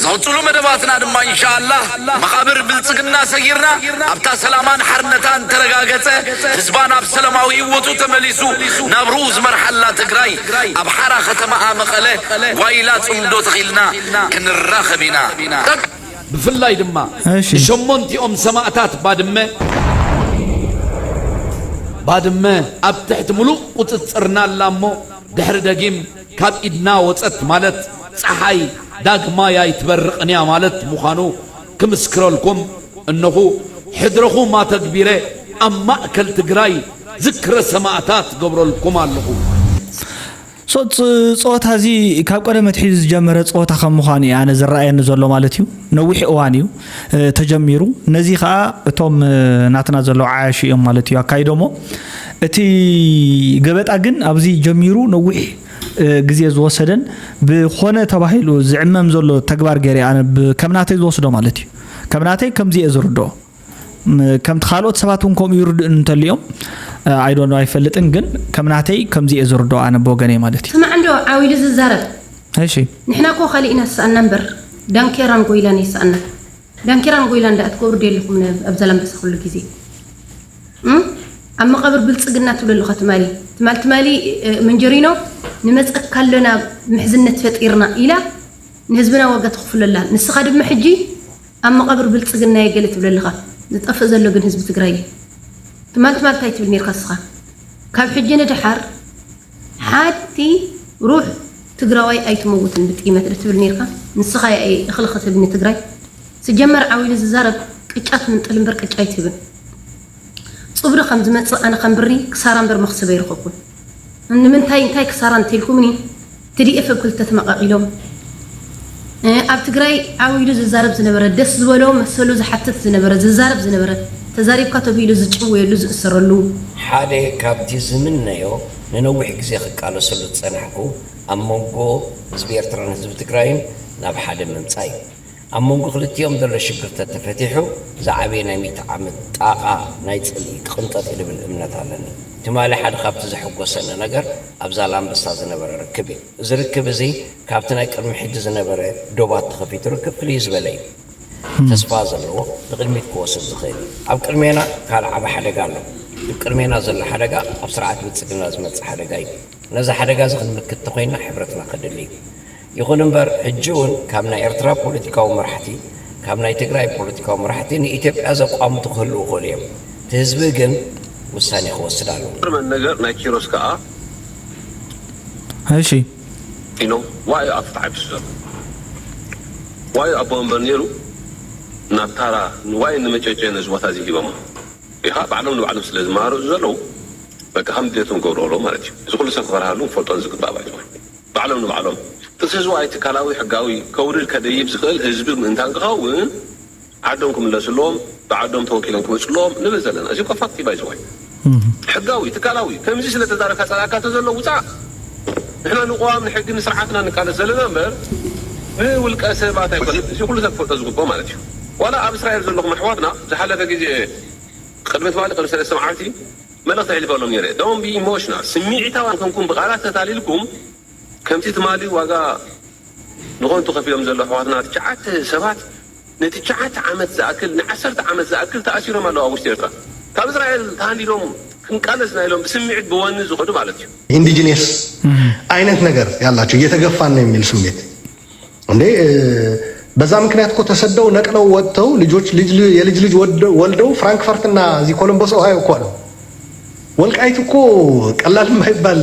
ዝቕጽሉ መደባትና ድማ ኢንሻላህ መቓብር ብልጽግና ሰጊርና ኣብታ ሰላማን ሓርነታን ተረጋገጸ ህዝባ ናብ ሰለማዊ ሂወቱ ተመሊሱ ናብርኡ ዝመርሓላ ትግራይ ኣብ ሓራ ከተማኣ መቐለ ጓይላ ጽምዶ ተኺልና ክንራኸብ ኢና። ብፍላይ ድማ ንሸሞንቲኦም ሰማእታት ባድመ ባድመ ኣብ ትሕቲ ምሉእ ቁጽጽርና ኣላ እሞ ድሕሪ ደጊም ካብ ኢድና ወጸት ማለት ጸሓይ ዳግማይ ኣይትበርቕን'ያ ማለት ምዃኑ ክምስክረልኩም እነኹ። ሕድረኹም ኣተግቢረ ኣብ ማእከል ትግራይ ዝክረ ሰማእታት ክገብረልኩም ኣለኹ። ጸወታ እዚ ካብ ቀደም ኣትሒዙ ዝጀመረ ጸወታ ከም ምዃኑ እዩ ኣነ ዝረኣየኒ ዘሎ ማለት እዩ። ነዊሕ እዋን እዩ። ተጀሚሩ ነዚ ከኣ እቶም ናትና ዘለዉ ዓያሹ እዮም ማለት እዩ ኣካይዶሞ እቲ ገበጣ ግን ኣብዚ ጀሚሩ ነዊሕ ግዜ ዝወሰደን ብኮነ ተባሂሉ ዝዕመም ዘሎ ተግባር ገይረ ኣነ ከም ናተይ ዝወስዶ ማለት እዩ ከም ናተይ ከምዚ እየ ዝርድኦ ከምቲ ካልኦት ሰባት እውን ከምኡ ይርድእን እንተልዮም ኣይዶ ኣይፈልጥን ግን ከም ናተይ ከምዚ እየ ዝርድኦ ኣነ ብወገነይ ማለት እዩ ስማዕ እንዶ ዓው ኢሉ ዝዛረብ እሺ ንሕና እኮ ካሊእ ኢና ዝሰኣና እምበር ዳንኬራን ጎይላን ኣይሰኣናን ዳንኬራን ጎይላን ዳኣ ትገብሩ ዶ የለኹምን ኣብ ዛላምበሳ ኩሉ ግዜ እም ኣብ መቓብር ብልጽግና ትብሎ ኣለኻ ትማሊ ትማል ትማሊ መንጀሪኖ ንመጸካ ኣለና ምሕዝነት ፈጢርና ኢላ ንህዝብና ዋጋ ተኽፍሎ ኣላ ንስኻ ድማ ሕጂ ኣብ መቓብር ብልጽግና የገለ ትብሎ ኣለኻ ዝጠፍእ ዘሎ ግን ህዝቢ ትግራይ እዩ ትማል ትማል እንታይ ትብል ኔርካ ንስኻ ካብ ሕጂ ንደሓር ሓቲ ሩሕ ትግራዋይ ኣይትመውትን ብጥይመት ዶ ትብል ነርካ ንስካ ያኢ እክሊ ክትህብ ንትግራይ ስጀመር ዓው ኢሉ ዝዛረብ ቅጫ ትምንጥል እምበር ቅጫ ኣይትህብን ፁብሪ ከም ዝመፅእ ኣነ ከም ብሪ ክሳራ እምበር መክሰብ ኣይረከብኩን ንምንታይ እንታይ ክሳራ እንተልኩምኒ ትዲኤፍ ብ ክልተ ተመቃቂሎም ኣብ ትግራይ ዓው ኢሉ ዝዛረብ ዝነበረ ደስ ዝበሎ መሰሉ ዝሓትት ዝነበረ ዝዛረብ ዝነበረ ተዛሪብካ ተብሂሉ ዝጭወየሉ ዝእሰረሉ። ሓደ ካብቲ ዝምነዮ ንነዊሕ ግዜ ክቃለሰሉ ዝጸናሕኩ ኣብ መንጎ ህዝቢ ኤርትራን ህዝቢ ትግራይን ናብ ሓደ ምምጻእ እዩ። ኣብ መንጎ ክልቲኦም ዘሎ ሽግር ተተፈቲሑ ዝዓበየ ናይ ሚእቲ ዓመት ጣቓ ናይ ጽልኢ ክቕንጠጥ እዩ ልብል እምነት ኣለኒ። ትማሊ ሓደ ካብቲ ዘሐጎሰኒ ነገር ኣብ ዛላምበሳ ዝነበረ ርክብ እዩ። እዚ ርክብ እዚ ካብቲ ናይ ቅድሚ ሕጂ ዝነበረ ዶባት ተኸፊቱ ርክብ ፍልይ ዝበለ እዩ። ተስፋ ዘለዎ ንቕድሚት ክወስድ ዝኽእል እዩ። ኣብ ቅድሜና ካልእ ዓቢ ሓደጋ ኣሎ። እቲ ቅድሜና ዘሎ ሓደጋ ኣብ ስርዓት ብልጽግና ዝመጽእ ሓደጋ እዩ። ነዚ ሓደጋ እዚ ክንምክት ተኾይንና ሕብረትና ከድሊ እዩ። ይኹን እምበር ሕጂ እውን ካብ ናይ ኤርትራ ፖለቲካዊ መራሕቲ ካብ ናይ ትግራይ ፖለቲካዊ መራሕቲ ንኢትዮጵያ ዘቋምቱ ክህልዉ ይኽእሉ እዮም። እቲ ህዝቢ ግን ውሳኔ ክወስድ ኣለዎ። ዝገርመኒ ነገር ናይ ኪሮስ ከኣ። እሺ ኢሎም ዋእ ኣፉ ተዓቢሱ ዘሎ ዋእ ኣቦ ወንበር ኔሩ ናብ ታራ ንዋይ ንመጨጨ ነዚ ቦታ እዚ ሂበሞ ኢኻ ባዕሎም ንባዕሎም ስለ ዝመሃረዙ ዘለዉ በቃ ከም ድሌቶም ገብርኦሎም ማለት እዩ እዚ ኩሉ ሰብ ክፈርሃሉ ክፈልጦን ዝግባእ ባይቶ ባዕሎም ንባዕሎም ጥንሲ ህዝባዊ ትካላዊ ሕጋዊ ከውርድ ከደይብ ዝኽእል ህዝቢ ምእንታን ክኸውን ዓዶም ክምለስሎም ብዓዶም ተወኪሎም ክመጽሎም ንብል ዘለና እዚ እኮ ፋክት እዩ ባይ ዘ ወይ ሕጋዊ ትካላዊ ከምዚ ስለ ተዛረብካ ጸላኣካ ተዘሎ ውጻእ ንሕና ንቅዋም ንሕጊ ንስርዓት እና ንቃለስ ዘለና እምበር ንውልቀ ሰባት ኣይኮነን እዚ ኩሉ ሰብ ክፈልጦ ዝግብኦ ማለት እዩ ዋላ ኣብ እስራኤል ዘለኹም ኣሕዋትና ዝሓለፈ ግዜ ቅድሚ ትማሊ ቅድሚ ሰለስተ መዓልቲ መልእኽቲ ኣሕሊፈሎም ኔረ don't be emotional ስሚዒታውያን ኮንኩም ብቃላት ተታሊልኩም ከምቲ ትማሊ ዋጋ ንኾንቱ ከፊሎም ዘለዉ ኣሕዋትና ትሽዓተ ሰባት ንትቸዓተ ዓመት ዝኣክል ንዓሰርተ ዓመት ዝኣክል ተኣሲሮም ኣለዉ ኣብ ውሽጢ ኤርትራ ካብ እስራኤል ተሃንዲዶም ክንቃለስ እና ኢሎም ብስሚዒት ብወኒ ዝኸዱ ማለት እዩ። ኢንዲጂኔስ ኣይነት ነገር ያላቸው እየተገፋን ነው የሚል ስሜት እንዴ በዛ ምክንያት እኮ ተሰደው ነቅለው ወጥተው ልጆች የልጅ ልጅ ወልደው ፍራንክፈርትና እዚህ ኮሎምቦስ ኦሃዮ እኮ አሉ። ወልቃይት እኮ ቀላል የማይባል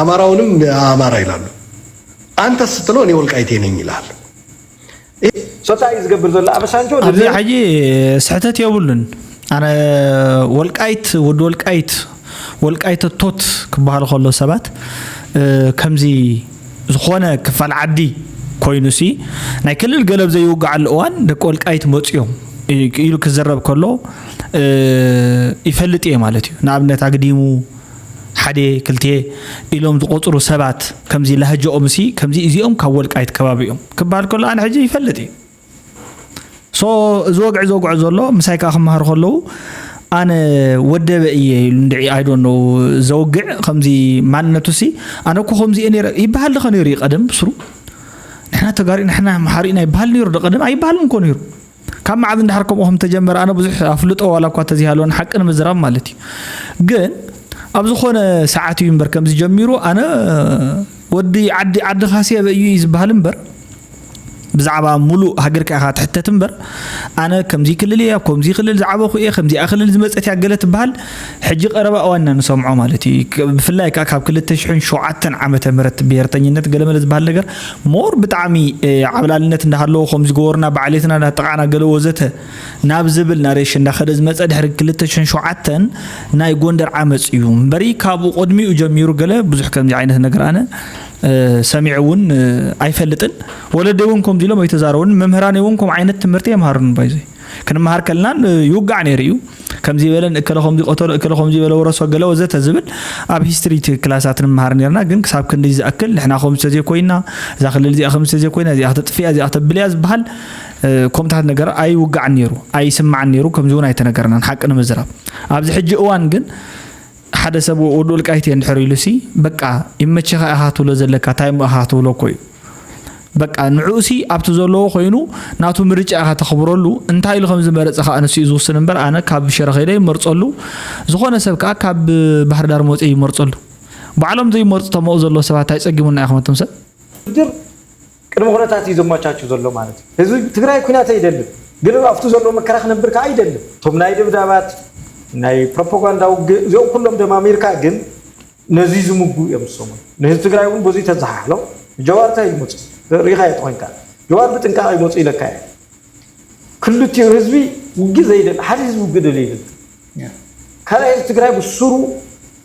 አማራውንም አማራ ይላሉ አንተ ስትለው እኔ ወልቃይቴ ነኝ ይላል። ሶጻይ ዝገብር ዘሎ ኣበሳንጆ ኣብዚ ሕጂ ስሕተት የብሉን ኣነ ወልቃይት ወዲ ወልቃይት ወልቃይት ቶት ክበሃል ከሎ ሰባት ከምዚ ዝኾነ ክፋል ዓዲ ኮይኑ ሲ ናይ ክልል ገለብ ዘይውግዓሉ እዋን ደቂ ወልቃይት መፅኦም ኢሉ ክዝረብ ከሎ ይፈልጥ እየ ማለት እዩ ንኣብነት ኣግዲሙ ሓድየ ክልትየ ኢሎም ዝቆጽሩ ሰባት ከምዚ ላህጀኦምሲ ከምዚ እዚኦም ካብ ወልቃይት ከባቢ እዮም ክበሃል ከሎ ኣነ ሕጂ ይፈልጥ እዩ ሶ እዚ ወግዒ ዘውግዖ ዘሎ ምሳይ ከዓ ክመሃሩ ከለዉ ኣነ ወደበ እየ ኢሉ እንድዒ ኣይዶኖ ዘውግዕ ከምዚ ማንነቱሲ ኣነ እኮ ከምዚ እየ ነይረ ይበሃል ድኸ ነይሩ እዩ ቀደም ብስሩ ንሕና ተጋሩ ንሕና መሓሪእና ይበሃል ነይሩ ዶ ቀደም ኣይበሃልን እኮ ነይሩ ካብ መዓዝ እንድሕር ከምኡ ከም ተጀመረ ኣነ ብዙሕ ኣፍልጦ ዋላ እኳ ተዘይሃለወን ሓቂ ንምዝራብ ማለት እዩ ግን ኣብ ዝኾነ ሰዓት እዩ እምበር ከምዚ ጀሚሩ ኣነ ወዲ ዓዲ ዓዲ ካስየ በእዩ እዩ ዝበሃል እምበር ብዛዕባ ሙሉእ ሃገርካ ኢኻ ትሕተት እምበር ኣነ ከምዚ ክልል እየ ኣብ ከምዚ ክልል ዝዓበኹ እየ ከምዚኣ ክልል ዝመፀት እያ ገለ ትበሃል ሕጂ ቀረባ እዋን ኢና ንሰምዖ ማለት እዩ ብፍላይ ከ ካብ ክልተ ሽሕን ሸውዓተን ዓመተ ምህረት ብሄርተኝነት ገለመለ ዝበሃል ነገር ሞር ብጣዕሚ ዓብላልነት እንዳሃለዎ ከምዚ ገበሩና ብዓሌትና እንዳጠቃዕና ገለ ወዘተ ናብ ዝብል ናሬሽን እንዳኸደ ዝመፀ ድሕሪ ክልተ ሽሕን ሸውዓተን ናይ ጎንደር ዓመፅ እዩ እምበሪ ካብኡ ቅድሚኡ ጀሚሩ ገለ ብዙሕ ከምዚ ዓይነት ነገር ኣነ ሰሚዐ እውን ኣይፈልጥን ወለደይ እውን ከምዚ ኢሎም ኣይተዛረቡን መምህራን እውን ከምኡ ዓይነት ትምህርቲ የምሃሩን ባይዘይ ክንመሃር ከልና ይውጋዕ ነይሩ እዩ ከምዚ በለ እከለ ከምዚ ቆተሎ እከለ ከምዚ በለ ወረሶ ገለ ወዘተ ዝብል ኣብ ሂስትሪ ክላሳት ንመሃር ነርና ግን ክሳብ ክንዲ ዝኣክል ንሕና ከምዚ ተዘይኮይና እዛ ክልል እዚኣ ከምዚ ተዘይኮይና እዚኣ ክተጥፍያ እዚኣ ክተብልያ ዝበሃል ከምታት ነገር ኣይውጋዕን ነይሩ ኣይስማዕን ነይሩ ከምዚ እውን ኣይተነገርናን ሓቂ ንምዝራብ ኣብዚ ሕጂ እዋን ግን ሓደ ሰብ ወድ ወልቃይት እየ እንድሕር ኢሉሲ በቃ ይመቸኻ ኢኻ ትብሎ ዘለካ እንታይ እሞ ኢኻ ክትብሎ እኮ እዩ በቃ ንዕኡሲ ኣብቲ ዘለዎ ኮይኑ ናቱ ምርጫ ኢኻ ተኽብረሉ እንታይ ኢሉ ከም ዝመረፀ ከዓ ንሱ እዩ ዝውስን እምበር ኣነ ካብ ሽረ ከይደ ይመርፀሉ ዝኾነ ሰብ ከዓ ካብ ባህርዳር መፂ ይመርፀሉ ባዕሎም ዘይመርፁ ተመኡ ዘለዎ ሰባት እንታይ ፀጊሙና ኢኹም እቶም ሰብ ቅድመ ኩነታት እዩ ዘማቻቹ ዘሎ ማለት እዩ። ህዝቢ ትግራይ ኩናት ኣይደልን ግን ኣብቱ ዘለዎ መከራ ክነብር ካኣ ይደልን። እቶም ናይ ደብዳባት ናይ ፕሮፖጋንዳ ውግእ እዚኦም ኩሎም ደማሚርካ ግን ነዙይ ዝምጉ እዮም ዝሰሙን። ንህዝቢ ትግራይ እውን በዙይ ተዘሓሕሎ ንጀዋር ታይ ይመፆ ሪኢኻዮ ተኾይንካ ጀዋር ብጥንቃቀ ይመፁ ኢለካ እየ። ክልቲኡ ህዝቢ ውግእ ዘይደሊ ሓደ ህዝቢ ውግእ ደልዩ የብልን ካልኣይ ህዝቢ ትግራይ ብሱሩ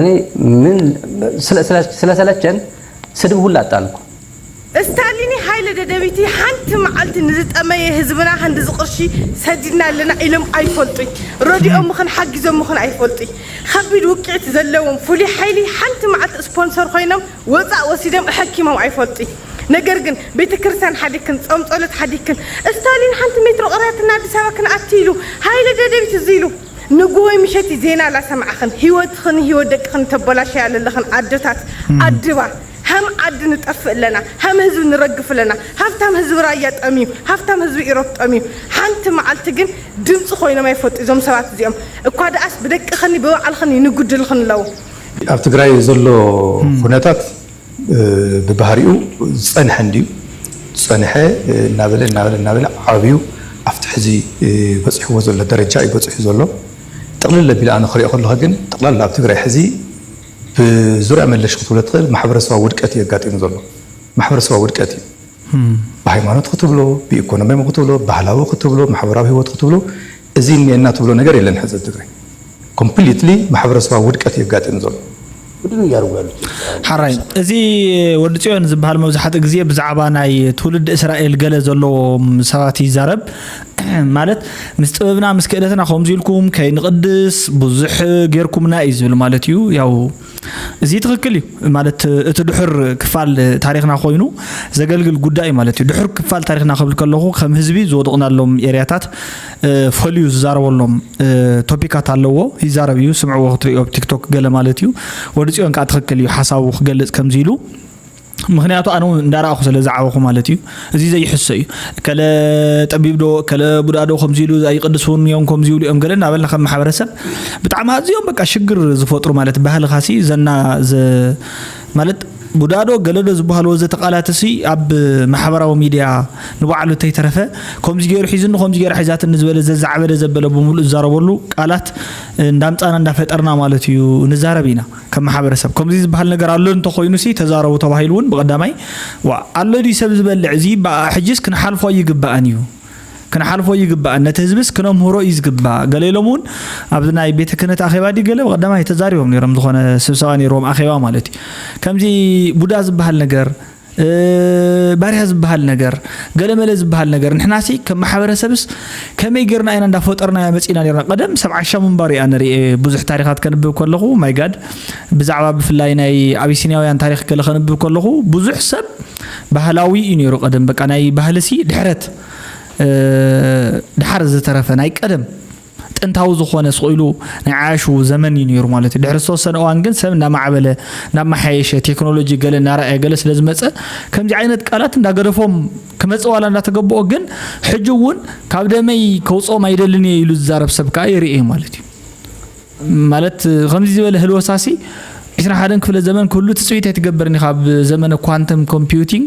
እኔ ምን ስለሰለቸን ስድብ ሁላ ጣልኩ። እስታሊኒ ሃይለ ደደቢቲ ሓንቲ ማዓልቲ ንዝጠመየ ህዝብና ክንድዚ ቅርሺ ሰዲድና ኣለና ኢሎም ኣይፈልጡይ ረዲኦምኽን ሓጊዞምኽን ኣይፈልጡይ ኸቢድ ውቂዕት ዘለዎም ፉሉይ ሓይሊ ሓንቲ ማዓልቲ እስፖንሶር ኾይኖም ወፃእ ወሲዶም እሐኪሞም ኣይፈልጡይ ነገር ግን ቤተክርስትያን ሓዲግክን ፆም ፀሎት ሓዲግክን እስታሊን ሓንቲ ሜትሮ ቅረያትና ኣዲስ ኣበባ ክንኣቲ ኢሉ ሃይለ ደደቢት እዙይ ኢሉ ንጉሆይ ምሸትይ ዜና ላሰማዕኽን ሂወትኽን ሂወት ደቅኽን ተበላሽያ ለለኽን ኣደታት ኣድባ ሀም ዓዲ ንጠፍእ ኣለና ሀም ህዝቢ ንረግፍ ኣለና ሀፍታም ህዝቢ ራያ ጠምዩ ሀፍታም ህዝቢ ኢሮፕ ጠምዩ ሐንቲ ማዓልቲ ግን ድምፂ ኾይኖም ኣይፈልጡ እዞም ሰባት እዚኦም እኳ ዳኣስ ብደቅኽንይ ብባዕልኽንይ ንጉድልኽን ኣለው ኣብ ትግራይ ዘሎ ኩነታት ብባህሪኡ ዝጸንሐ እንድዩ ዝጸንሐ እናበለ እናበለ እናበለ ዓብዩ ኣብቲ ሕዚ በጺሕዎ ዘሎ ደረጃ እዩ በጺሑ ዘሎ። ጥቕልል ኣቢለ ኣነ ክሪኦ ከለኹ ግን ጠቕላላ ኣብ ትግራይ ሕዚ ብዙርያ መለሽ ክትብሎ ትኽእል ማሕበረሰባዊ ውድቀት እዩ ኣጋጢሙ ዘሎ። ማሕበረሰባዊ ውድቀት እዩ። ብሃይማኖት ክትብሎ፣ ብኢኮኖሚያዊ ክትብሎ፣ ባህላዊ ክትብሎ፣ ማሕበራዊ ህይወት ክትብሎ እዚ እኒኤና ትብሎ ነገር የለን ሕዚ ኣብ ትግራይ ኮምፕሊትሊ ማሕበረሰባዊ ውድቀት እዩ ኣጋጢሙ ዘሎ። ምንድን ነው እያደረጉ ያሉት ኤርትራውያን? ሐራይ እዚ ወዲ ጽዮን ዝብሃል መብዛሕትኡ ግዜ ብዛዕባ ናይ ትውልዲ እስራኤል ገለ ዘለዎም ሰባት ይዛረብ ማለት ምስ ጥበብና ምስ ክእለትና ከምዚ ኢልኩም ከይንቕድስ ብዙሕ ጌርኩምና እዩ ዝብል ማለት እዩ ያው እዚ ትክክል እዩ ማለት እቲ ድሑር ክፋል ታሪክና ኮይኑ ዘገልግል ጉዳይ እዩ ማለት እዩ ድሑር ክፋል ታሪክና ክብል ከለኩ ከም ህዝቢ ዝወደቅናሎም ኤርያታት ፈልዩ ዝዛረበሎም ቶፒካት ኣለዎ ይዛረብ እዩ ስምዕዎ ክትሪኦ ቲክቶክ ገለ ማለት እዩ ወዲ ፅዮን ከዓ ትክክል እዩ ሓሳቡ ክገልፅ ከምዚ ኢሉ ምኽንያቱ ኣነ እውን እንዳረኣኹ ስለ ዝዓበኹ ማለት እዩ እዚ ዘይሕሶ እዩ ከለ ጠቢብ ዶ ከለ ቡዳ ዶ ከምዚ ኢሉ ኣይቅድሱን እዮም ከምዚ ይብሉ እዮም ገለ እናበልና ከም ማሕበረሰብ ብጣዕሚ ኣዝዮም በቃ ሽግር ዝፈጥሩ ማለት ባህልኻሲ ዘና ማለት ቡዳዶ ገለዶ ዝበሃሉ ወዘተ ቃላት እሲ ኣብ ማሕበራዊ ሚድያ ንባዕሉ እንተይተረፈ ከምዚ ገይሩ ሒዝኒ ከምዚ ገይራ ሒዛትኒ ዝበለ ዘዛዕበለ ዘበለ ብምሉእ ዝዛረበሉ ቃላት እንዳምፃና እንዳፈጠርና ማለት እዩ ንዛረብ ኢና ከም ማሕበረሰብ ከምዚ ዝበሃል ነገር ኣሎ እንተኾይኑሲ ተዛረቡ ተባሂሉ እውን ብቐዳማይ ዋእ ኣሎ ድዩ ሰብ ዝበልዕ እዚ በኣ ሕጂስ ክንሓልፎ ኣይግበኣን እዩ ክንሓልፎ ኣይግበኣን ነቲ ህዝብስ ክነምህሮ እዩ ዝግባእ ገለ ኢሎም እውን ኣብዚ ናይ ቤተ ክህነት ኣኼባ ድዩ ገለ ብቐዳማይ ተዛሪቦም ነይሮም ዝኾነ ስብሰባ ነይርዎም ኣኼባ ማለት እዩ ከምዚ ቡዳ ዝበሃል ነገር ባርያ ዝበሃል ነገር ገለመለ ዝበሃል ነገር ንሕናሲ ከም ማሕበረሰብስ ከመይ ጌርና ኢና እንዳፈጠርናዮ መፂና ኔርና ቀደም ሰብ ዓሻ ምንባሩ እያ ንርኤ ብዙሕ ታሪኻት ከንብብ ከለኹ ማይጋድ ብዛዕባ ብፍላይ ናይ ኣቢሲኒያውያን ታሪኽ ገለ ከንብብ ከለኹ ብዙሕ ሰብ ባህላዊ እዩ ነይሩ ቀደም በቃ ናይ ባህልሲ ድሕረት ድሓር ዝተረፈ ናይ ቀደም ጥንታዊ ዝኾነ ስቕ ኢሉ ናይ ዓያሹ ዘመን እዩ ነይሩ ማለት እዩ። ድሕሪ ዝተወሰነ እዋን ግን ሰብ እናማዕበለ እናመሓየሸ ቴክኖሎጂ ገለ እናረኣየ ገለ ስለ ዝመፀ ከምዚ ዓይነት ቃላት እንዳገደፎም ክመፅእ ዋላ እንዳተገበኦ ግን ሕጂ እውን ካብ ደመይ ከውፅኦም ኣይደልን እየ ኢሉ ዝዛረብ ሰብ ከዓ ይርኤ ማለት እዩ። ማለት ከምዚ ዝበለ ህልወሳሲ ዕስራ ሓደን ክፍለ ዘመን ክህሉ ትፅቢት ኣይትገብርን ኢኻ ኣብ ዘመነ ኳንተም ኮምፒውቲንግ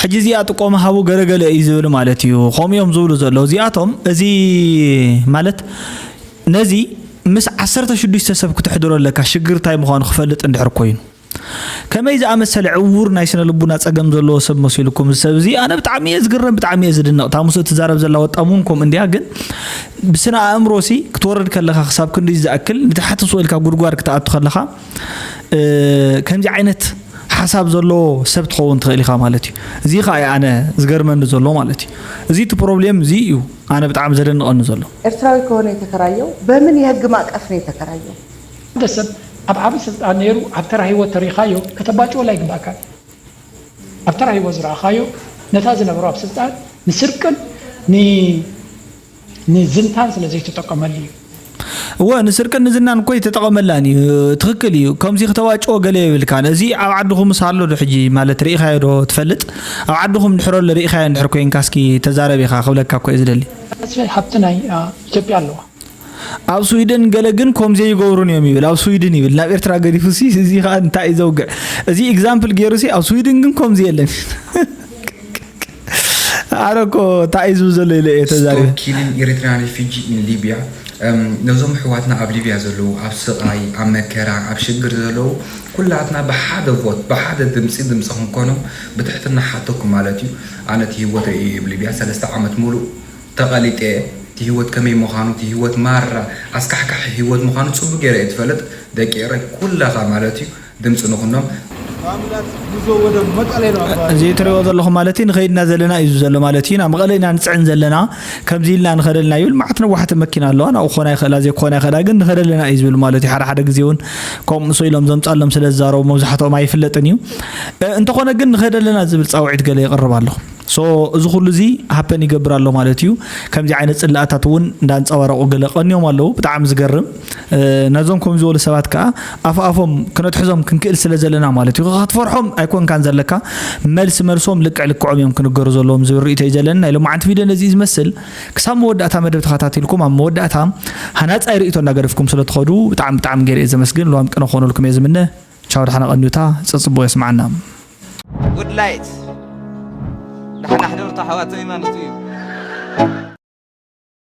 ሕጂ እዚኣ ጥቆማ ሃቡ ገለገለ እዩ ዝብል ማለት እዩ ከምኡ እዮም ዝብሉ ዘለዉ እዚኣቶም እዚ ማለት ነዚ ምስ ዓሰርተ ሽዱሽተ ሰብ ክትሕድሮ ኣለካ ሽግር እንታይ ምዃኑ ክፈልጥ እንድሕር ኮይኑ ከመይ ዝኣመሰለ ዕውር ናይ ስነ ልቡና ጸገም ዘለዎ ሰብ መሲልኩም እዚ ሰብ እዚ ኣነ ብጣዕሚ እየ ዝግረም ብጣዕሚ እየ ዝድነቕ እታ ምስ እትዛረብ ዘላ ወጣም እውን ከምኡ እንድያ ግን ብስነ ኣእምሮ ሲ ክትወርድ ከለኻ ክሳብ ክንዲ ዝኣክል ንታሕቲ ስቕ ኢልካ ጉድጓድ ክትኣቱ ከለኻ ከምዚ ዓይነት ሓሳብ ዘለዎ ሰብ ትኸውን ትኽእል ኢኻ ማለት እዩ እዚ ከዓ እዩ ኣነ ዝገርመኒ ዘሎ ማለት እዩ እዚ እቲ ፕሮብሌም እዚ እዩ ኣነ ብጣዕሚ ዘደንቐኒ ዘሎ ኤርትራዊ ከሆነ የተከራየው በምን የህግ ማእቀፍ ነው የተከራየው? ሓደ ሰብ ኣብ ዓቢ ስልጣን ኔሩ ኣብ ተራ ሂወት ተሪካዮ ከተባጭወሉ ኣይግባእካን እዩ ኣብ ተራ ሂወት ዝረኣካዮ ነታ ዝነበሮ ኣብ ስልጣን ንስርቅን ን ንዝንታን ስለ ዘይተጠቀመሉ እዩ። እወ ንስርቅን ንዝናን እኮ ኣይተጠቐመላን እዩ ትኽክል እዩ ከምዚ ክተዋጭዎ ገለ የብልካን እዚ ኣብ ዓድኹምስ ኣሎ ዶ ሕጂ ማለት ርኢኻዮ ዶ ትፈልጥ ኣብ ዓድኹም እንድሕር ኣሎ ርኢኻዮ እንድሕር ኮይንካ እስኪ ተዛረብ ኢኻ ክብለካ እኮ እየ ዝደሊ ተስፋይ ሃብቲ ናይ ኢትዮጵያ ኣለዋ። ኣብ ስዊድን ገለ ግን ኮምዚ ኣይገብሩን እዮም ይብል ኣብ ስዊድን ይብል ናብ ኤርትራ ገዲፉ ሲ እዚ ከኣ እንታይ እዩ ዘውግዕ እዚ ኤግዛምፕል ገይሩ ሲ ኣብ ስዊድን ግን ኮምዚ የለን ኣነ እኮ እንታይ እዩ ዝብል ዘሎ ኢለ እየ ተዛሪበ። Stop killing Eritrean refugee in Libya ነዞም ኣሕዋትና ኣብ ሊብያ ዘለዉ ኣብ ስቓይ ኣብ መከራ ኣብ ሽግር ዘለዉ ኩላትና ብሓደ vote ብሓደ ድምጺ ድምጺ ክንኮኖም ብትሕትና እሓተኩም ማለት እዩ ኣነ እቲ ሂወተይ እዩ እብ ሊብያ ሰለስተ ዓመት ሙሉእ ተቐሊጠ እየ እቲ ሂወት ከመይ ምዃኑ እቲ ሂወት ማራ ኣስካሕካሒ ሂወት ምዃኑ ጽቡቅ ጌረ እየ ዝፈልጥ ደቂ ኤረይ ኩላታ ማለት እዩ ድምፂ ንኹኖም። እዚ ትሪእዎ ዘለኹም ማለት ንኸይድ እና ዘለና እዩ ዘሎ ማለት እዩ ናብ መቐለ ኢና ንፅዕን ዘለና ከምዚ ኢልና ንኸደ ኣለና ይብል መዓት ነዋሕቲ መኪና ኣለዋ ናብኡ ክኾና ይኽእላ ዘይክኾና ይኽእላ ግን ንኸደ ኣለና እዩ ዝብል ማለት እዩ ሓደ ሓደ ግዜ እውን ከምኡ ምስ ኢሎም ዘምፃሎም ስለ ዝዛረቡ መብዛሕትኦም ኣይፍለጥን እዩ እንተኾነ ግን ንኸደ ኣለና ዝብል ፃውዒት ገለ የቕርብ ኣለኹ so እዚ ኩሉ እዚ ሃፐን ይገብር ኣሎ ማለት እዩ ከምዚ ዓይነት ጽላኣታት እውን እንዳንጸባረቑ ገለ ቀንዮም ኣለዉ ብጣዕሚ ዝገርም ነዞም ከም ዝበሉ ሰባት ከዓ ኣፍኣፎም ክነትሕዞም ክንክእል ስለ ዘለና ማለት እዩ ክትፈርሖም ኣይኮንካን ዘለካ መልሲ መልሶም ልክዕ ልክዖም እዮም ክንገሩ ዘለዎም ዝብል ርእቶ እዩ ዘለኒ ናይ ሎማዓንቲ ቪድዮ ነዚ ዝመስል ክሳብ መወዳእታ መደብ ተኸታቲልኩም ኣብ መወዳእታ ሃናጻይ ርእቶ እንዳገደፍኩም ስለ ትኸዱ ብጣዕሚ ብጣዕሚ ገይረ እየ ዘመስግን ልዋም ቅነ ክኾነልኩም እየ ዝምነ ቻው ዳሕና ቀንዩታ ጸጽቡቁ የስምዓና። Good light ዳሕና ሕደሩታ ኣሕዋተይ ማለቱ እዩ።